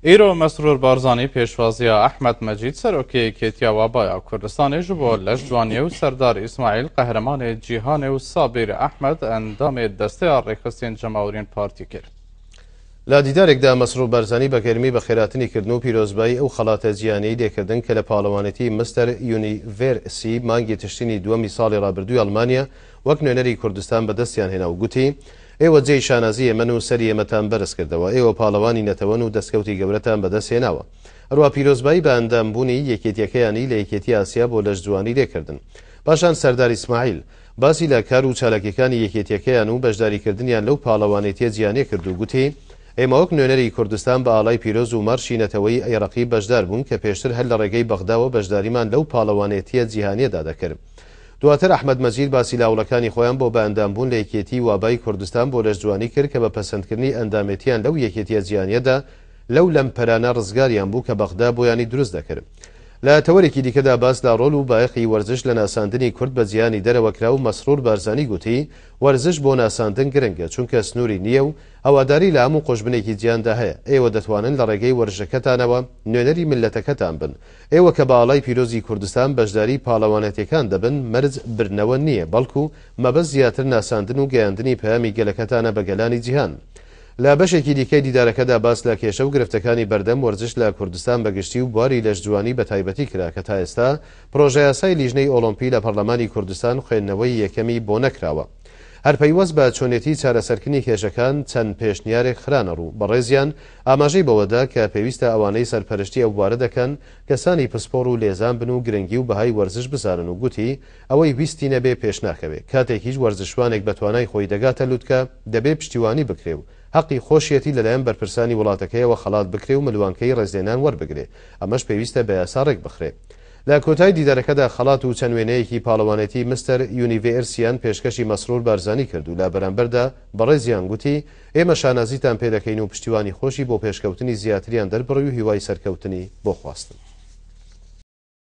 ئیرۆ مەسرور بارزانی پێشوازیا ئەحمەد مەجید سەرۆکی یەکێتیا وابایا کوردستانێ ژ بۆ لەش جوانیێ و سەردار ئیسماعیل قەهرەمانێ جیهانێ و سابیر ئەحمەد ئەندامێ دەستەیا ڕێکخستین جەماورین پارتی کرد. لە دیدارێکدا مەسرور بارزانی بە گەرمی بەخێراتنی کردن و پیرۆزبایی ئەو خەڵاتە جیهانیەی لێ کردن کە لە پاڵەوانێتی مستەر یونی ڤێر سی مانگی تشرینی دووەمی ساڵی ڕابردووی ئەڵمانیا وەک نوێنەری کوردستان بە دەستیان هێنا و گوتی، ئێوە جێی شانازی ئێمەن و سەری ئێمەتان بەرز کردەوە، ئێوە پاڵەوانی نەتەوەن و دەستکەوتی گەورەتان بەدەست هێناوە. ئەروا پیرۆزبایی بە ئەندام بوونی یەکێتیەکەیانی لە یەکێتی ئاسیا بۆ لەش جوانی لێ کردن. پاشان سەردار ئیسماعیل، باسی لە کار و چالاکیەکانی یەکێتیەکەیان و بەشداری کردنیان لەو پاڵەوانێتیە جیانە کرد و گوتی، ئێمە وەک نوێنەری کوردستان بە ئاڵای پیرۆز و مارشی نەتەوەیی ئەی ڕەقیب بەشدار بوون کە پێشتر هەر لە ڕێگەی بەغداوە بەشداریمان لەو پاڵەوانێتیە جیهانیەدا دەکرد. دواتر ئەحمەد مەجید باسی لاوڵەکانی خۆیان بۆ بەئەندام بوون لە یەکێتیی وابای کوردستان بۆ لەشجوانی کرد کە بە پەسەندکردنی ئەندامێتییان لەو یەکێتییە جیهانییەدا لەو لەمپەرانە ڕزگاریان بوو کە بەغدا بۆیانی دروست دەکرد. لە تەوەرێکی دیکەدا باس لە ڕۆل و بایەخی وەرزش لە ناساندنی کورد بە جیهانی دەرەوە کرا و مەسرور بارزانی گوتی، وەرزش بۆ ناساندن گرنگە چونکە سنووری نییە و هەواداری لە هەموو قوژبنێکی جیهاندا هەیە، ئێوە دەتوانن لە ڕێگەی وەرژەکەتانەوە نوێنەری میللەتەکەتان بن، ئێوە کە بە ئاڵای پیرۆزی کوردستان بەشداری پاڵەوانێتیەکان دەبن مەرج بردنەوە نییە بەڵکو مەبەست زیاتر ناساندن و گەیاندنی پەیامی گەلەکەتانە بە گەلانی جیهان. لە بەشێکی دیکەی دیدارەکەدا باس لە کێشە و گرفتەکانی بەردەم وەرزش لە کوردستان بە گشتی و بواری لەشجوانی بە تایبەتی کرا کە تا ئێستا پرۆژەیاسای لیژنەی ئۆڵۆمپی لە پەڕلەمانی کوردستان خوێندنەوەی یەکەمی بۆ نەکراوە هەر پەیوەست بە چۆنێتی چارەسەرکردنی کێشەکان چەند پێشنیارێک خرانەڕوو بەڕێزیان ئاماژەی بەوەدا کە پێویستە ئەوانەی سەرپەرشتی ئەو بوارە دەکەن کەسانی پسپۆڕ و لێزان بن و گرنگی و بەهای وەرزش بزانن و گوتی، ئەوەی ویستی نەبێ پێش ناکەوێ، کاتێکیش وەرزشوانێک بە توانای خۆی دەگاتە لوتکە دەبێ پشتیوانی بکرێ و هەقی خۆشیەتی لەلایەن بەرپرسانی وڵاتەکەیەوە خەڵات بکرێ و ملوانکەی ڕێزلێنان وەربگرێ، ئەمەش پێویستە بە یاسا ڕێکبخرێ. لە کۆتای دیدارەکەدا خەڵات و چەند وێنەیەکی پاڵەوانێتی مستەر یونیڤێرسیان پێشکەشی مەسرور بارزانی کرد و لە بەرامبەردا بەڕێزیان گوتی، ئێمە شانازیتان پێ دەکەین و پشتیوانی خۆشی بۆ پێشکەوتنی زیاتریان دەربڕی و هیوای سەرکەوتنی بۆ خواستن.